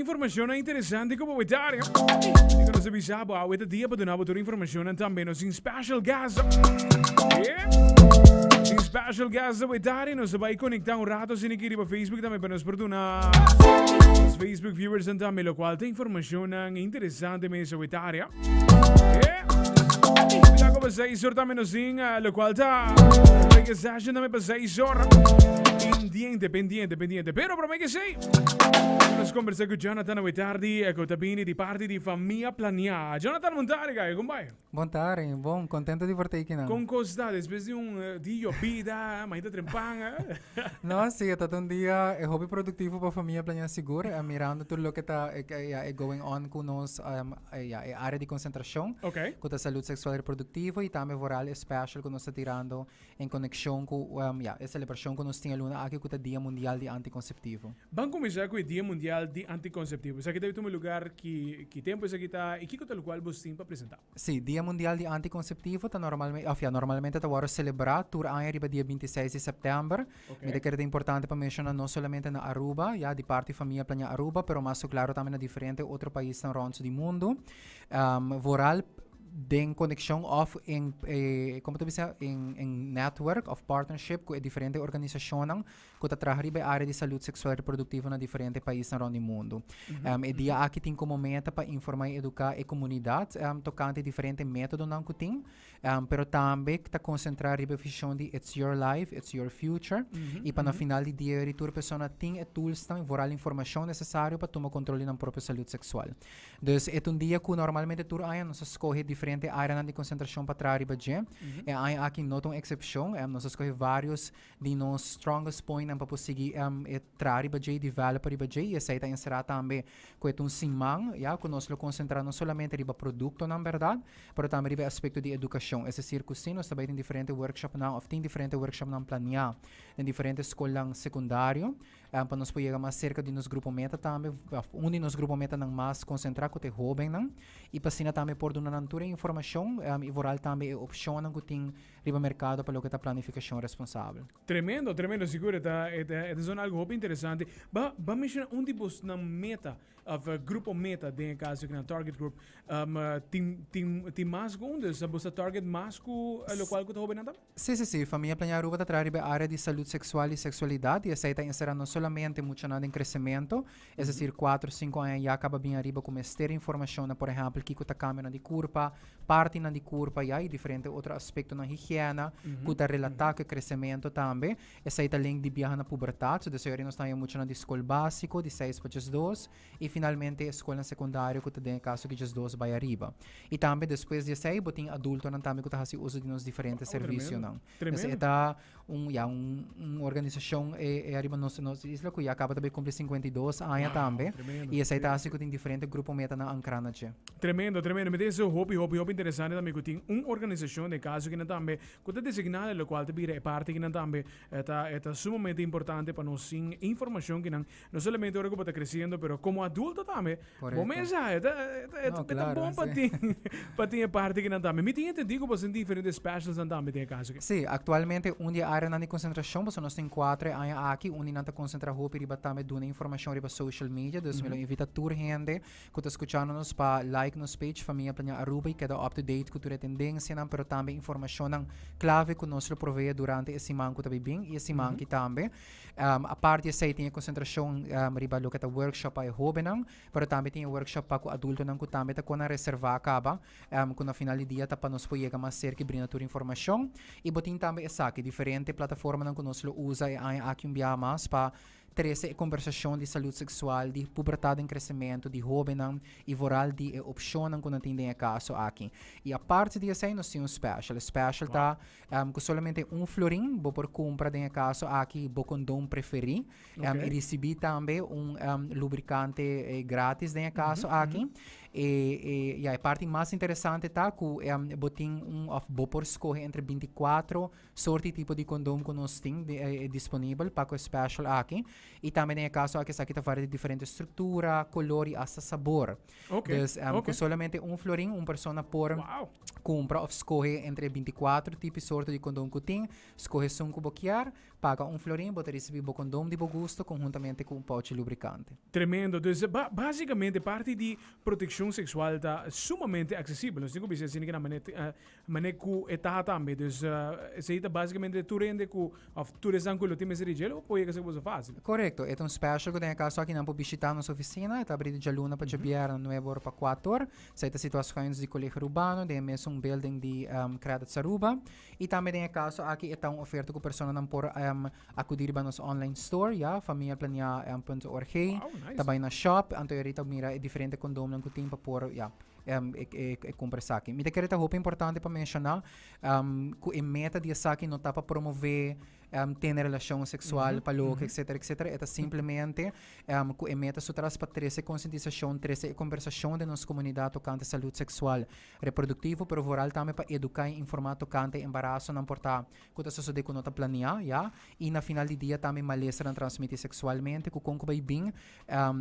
Informacionnan interesante cu bo a dar. Dico nos avisa bo awe ta dia pa duna bo tur informacionnan tambe nos in special guest. Yeah. Nos in special guest a dar y nos bai conecta un rato sin aquí riba Facebook tambe pa nos por duna nos Facebook viewers en tambe lo cual ta informacionnan interesante mes a dar. Yeah. Mira como se hizo tambe nos in lo cual ta reggae session tambe pa se hizo. Pendiente, pendiente, pendiente. Pero promé que sí. Nos conversa cu Jonathan awe tardi, e cu ta bini di parti di Famia Plania. Jonathan, bon tardi, kaya, con bai? Bon tardi, bon, contento di por ta aquí nan. Con cos ta despues di un eh, di llovida, maita trempan, eh? No, sí, het un dia e hobby productivo pa Famia Plania sigur, eh, mirando tur loke ta e, e, ja, e going on cu nos um, e, ja, e área di concentracion, Oké. cu ta salud sexual reproductivo y tambe vooral e special cu nos ta tirando en konekshon ku ya e selebrashon ku nos tin e luna aki ku ta Dia Mundial di Antikonseptivo. Ban kuminsá ku e Dia Mundial di Antikonseptivo. Esaki ta bin tuma lugar ki ki tempu esaki ta i kiko ta lo kual bos tin pa presentá? Sí, Dia Mundial di Antikonseptivo ta normalme òf ya normalmente ta wòrdu selebrá tur aña riba dia binti seis di sèptèmber. Mi ta kere ta importante pa menshoná no solamente na Aruba, ya di parti famia plaña Aruba, pero mas ku klaru tambe na diferente otro paisnan rònt di mundu. Vooral. den conexión of en, eh, como te bisa, en, en network of partnership cu e diferente organisacionan cu ta traha riba e área di salud sexual y reproductivo na diferente paisnan rond di mundo. Em, e dia aki tin como meta pa informa y educa e comunidad em, tocante diferente métodonan cu tin, em, pero tambe ta concentra riba e vision di It's Your Life, It's Your Future y pa na final di dia yori tur persona tin e toolsnan y vooral informacion necesario pa tuma control di nan propio salud sexual. Dus e ta un dia ku normalmente tur aña nos ta skohe diferente áreanan di konsentrashon pa traha riba dje. E aña aki no ta un eksepshon. Nos a skohe vários di nos strongest pointnan pa por sigui e traha riba dje i developa riba dje. I esei ta enserá tambe ku e ta un siman, ya, ku nos lo konsentrá no solamente riba produktonan, bèrdat, pero tambe riba e aspekto di edukashon. Es desir ku si, nos ta bai den diferente workshopnan òf tin diferente workshopnan planeá den diferente skolnan sekundario, En pa nos por yega mas serka di nos grupo meta tambe, un di nos grupo metanan mas konsentrá ku ta e hóbennan i pa asina tambe por duna nan tur e informashon i vooral tambe e opshonnan ku tin riba merkado pa loke ta planifikashon responsabel. Tremendo, tremendo, sigur e ta e ta e ta sona algu hopi interesante. Ba ba menshoná un di bosnan meta òf grupo meta den e kaso kinan target group. Tin tin tin mas ku un, dus bos ta target mas ku lokual ku ta hóbennan tambe? Sí, sí, sí, Famia Plañá Aruba ta traha riba e área di salud seksual i seksualidat i esei ta enserá no solamente muchanan den kresementu, es desir kuater, sinku aña ya, kaba bini ariba ku mester informashon na, por ehèmpel, kiko ta kambianan di kurpa, partinan di kurpa, ya, i diferente otro aspektonan higièna ku ta relatá ku e kresementu tambe. Esei ta link di biaha na pubertat, so desei ora nos ta haña muchanan di skol básiko, di seis pa djesdos, I finalmente e skolnan sekundario ku ta den e kaso ki dje dos bai ariba. I tambe despues di esei bo tin adultonan tambe ku ta hasi uso di nos diferente servisionan. Tremendo. E ta un ya un un organisashon e e ariba nos nos isla ku ya kaba ta bai kumpli sinkuenta i dos aña tambe i esei ta hasi ku tin diferente grupo metanan ankrá na dje. Tremendo, tremendo. Mi ta yesei hopi, hopi, hopi interesante tambe ku tin un organisashon den e kaso kinan tambe ku ta designá e lokual ta bira e parti kinan tambe e ta e ta sumamente importante pa nos tin informashon kinan No solamente ora ku bo ta kresiendo pero komo adulto tambe bo mesa e ta e ta bon pa tin pa tin e parti kinan tambe. Mi tin entendí ku bo tin diferente specialsnan tambe den e kaso aki. Sí, aktualmente un di e áreanan di konsentrashon, boso nos tin kuater e aña aki unda nan ta konsentrá hopi riba tambe duna informashon riba social media, dus mi lo invitá tur hende ku ta skuchando nos pa like nos page Famia Plaña Aruba i keda up to date ku tur e tendensianan pero tambe informashonnan klave ku nos lo proveé durante e siman ku ta bai bin i e siman aki tambe. Um, apart di esei tin e concentracion um, riba lo que ta workshop pa e hobennan, pero tambe tin e workshop pa cu adultonan cu tambe ta con a reserva caba, um, cu na final di dia ta pa nos po yega mas cerca y brinda tur informacion. Y bo tin tambe esaki, diferente plataformanan cu nos lo usa e aña aki un biaha mas pa trece e conversacion di salud sexual, di pubertad en crecemento, di hobennan y vooral di e opcionnan cu nan tin den e caso aki. Y apart di esei nos tin un special, e special ta Ku solamente un florin bo por kumpra den e kaso aki bo kondon preferí i risibí tambe un lubrikante grátis den e kaso aki. E ya e parti mas interesante ta ku bo tin un òf bo por skohe entre binti kuatro sort di tipo di kondon ku nos tin disponibel pa ku e special aki. I tambe den e kaso aki esaki ta varia di diferente struktura, kolor i asta sabor. Dus ku solamente un florin un persona por. Kumpra òf skohe entre e binti kuater tipi sorto di kondom ku tin. Skohe esun ku bo kier. Paga un florin, bo ta risibí bo kondom di bo gusto konhuntamente ku un pouchi lubrikante. Tremendo! Dus, básikamente parti di protekshon seksual ta sumamente aksesibel. Nos tin ku bisa asina kina manera te manera ku e ta tambe. Dus, esei ta básikamente tur hende ku òf tur esnan ku lo tin mester di djel o por yega ser ku boso fásil. Korekto. E ta un special ku den e kaso aki nan por bishitá nos ofisina. E ta abrí di djaluna pa djabièrnè nuebe ora pa kuater. Esei ta situaciones di Colegio Rubano den e mesun building di Credits Aruba. Y tambe den e caso aki e ta un oferta cu personanan por acudi riba nos online store, ya, familiaplania.org. Wow, nice. Ta bay na shop, anto e Rita a mira e diferente condomnan cu tin pa por, ya, e cumpra esaki. Mi ta kere ta hopi importante pa menciona cu e meta di esaki no ta pa promove tene relashon seksual pa loke, etsetera, etsetera, e ta simplemente ku e meta su tras pa trese konsientisashon, trese e kombersashon den nos komunidat tokante salut seksual, reproduktivo, pero vooral tambe pa eduká i informá tokante embarasonan por ta ku ta sosodé ku no ta planeá, ya, i na final di dia tambe malestarnan transmití seksualmente ku kon ku bai bin,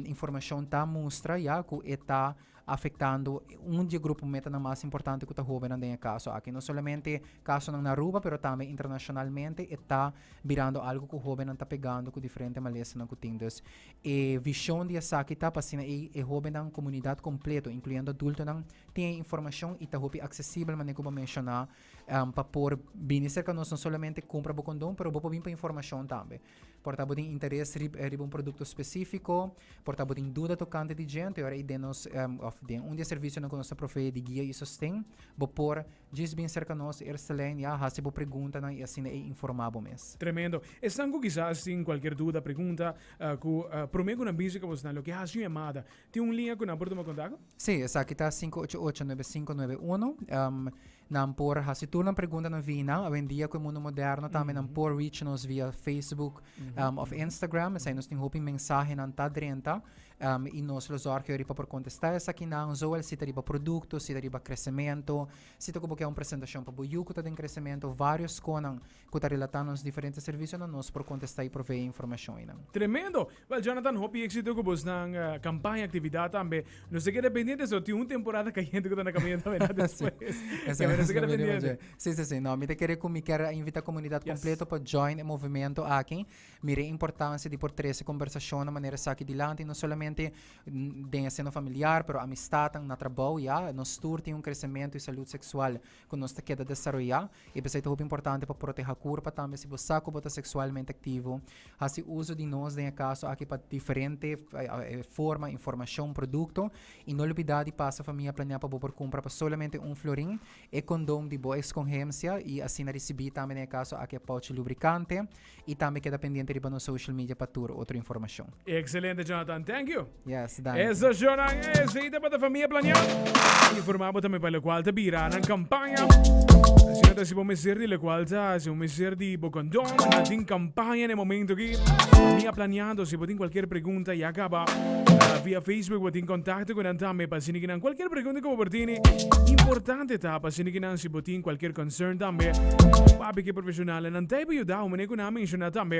informashon ta mustra, ya, ku e ta. afectando un di e grupo metanan mas importante cu ta hobennan den e caso aki. No solamente casonan na Aruba pero tambe internacionalmente e ta birando algo cu hobennan ta pegando cu diferente malesanan cu tin. Dus e vision di esaki ta pa asina ei e hobennan, comunidad completo, incluyendo adultonan, tin e informacion y ta hopi accesibel manera cu bo a menciona pa por bini cerca nos, no solamente cumpra bo condon pero bo por bin pa informacion tambe. Por ta bo tin interes riba un produkto spesífiko, por ta bo tin duda tokante di dje, ora i den nos òf den un di e servisionan ku nos ta proveé di guia i sosten, bo por djis bin serka nos Eerstelijn i a hasi bo preguntanan i asina ei informá bo mes. Tremendo. Esnan ku kisas tin kualkier duda, pregunta, ku promé ku nan bisa ku abosnan lo ke hasi un yamada. Tin un liña ku nan por tuma kontakto? Sí, esaki ta sinku ocho ocho, nuebe sinku nuebe uno. Nan por hasi tur nan pregunta na Vina. Awendia ku e mundu moderno tambe nan por reach nos via Facebook òf Instagram. Esei nos tin hopi mensahenan ta drenta i nos lo zòrgio riba por kontestá esakinan, zowel si ta riba produkto, si ta riba kresementu, si ta ku bo ke un presentashon pa bo yu ku ta den kresementu, vários konan cu ta relatá nos diferente servicionan, nos por contestá y proveé informacion einan. Tremendo! Well Jonathan, hopi exito cu bosnan campaña, actividad tambe. Nos ta keda pendiente so tin un temporada cayente cu ta na caminda tambe na despues. Esaki nos ta keda pendiente. Sí, sí, sí. No, mi ta kere cu mi ker a invitá comunidad completo pa join e movimento aki. Mir'é importancia di por trece conversacion na manera esaki dilanti, no solamente den e seno familiar, pero amistadnan na trabou, ya. Nos tur tin un crecemento y salud sexual ku nos ta keda desaroyá i p'esei ta hopi importante pa protehá kurpa tambe si bo sa ku bo ta seksualmente aktivo hasi uso di nos den e kaso aki pa diferente forma informashon produkto i no lupidá di pasa famia planeá pa bo por kumpra pa solamente un florin e kondon di bo eskonhensia i asina risibí tambe den e kaso aki e pouch lubrikante. Y tambe keda pendiente riba nos social media pa tur otro informacion. Excelente Jonathan, thank you! Yes, danki. Eso shownan ese y ta pa ta famia plania y forma bo tambe pa locual ta bira nan campaña. Asina ta si bo mester di locual ta si bo mester di bo condon nan tin campaña n'e momento aki. Mi a planiando si bo tin cualkier pregunta ya caba via Facebook bo tin contacto cu nan tambe pa asina ki nan cualkier pregunta cu bo por tini importante ta pa asina ki nan Si bo tin cualkier concern tambe, papi ki e profesionalnan ta e bo yuda, un manera cu nan a menciona tambe.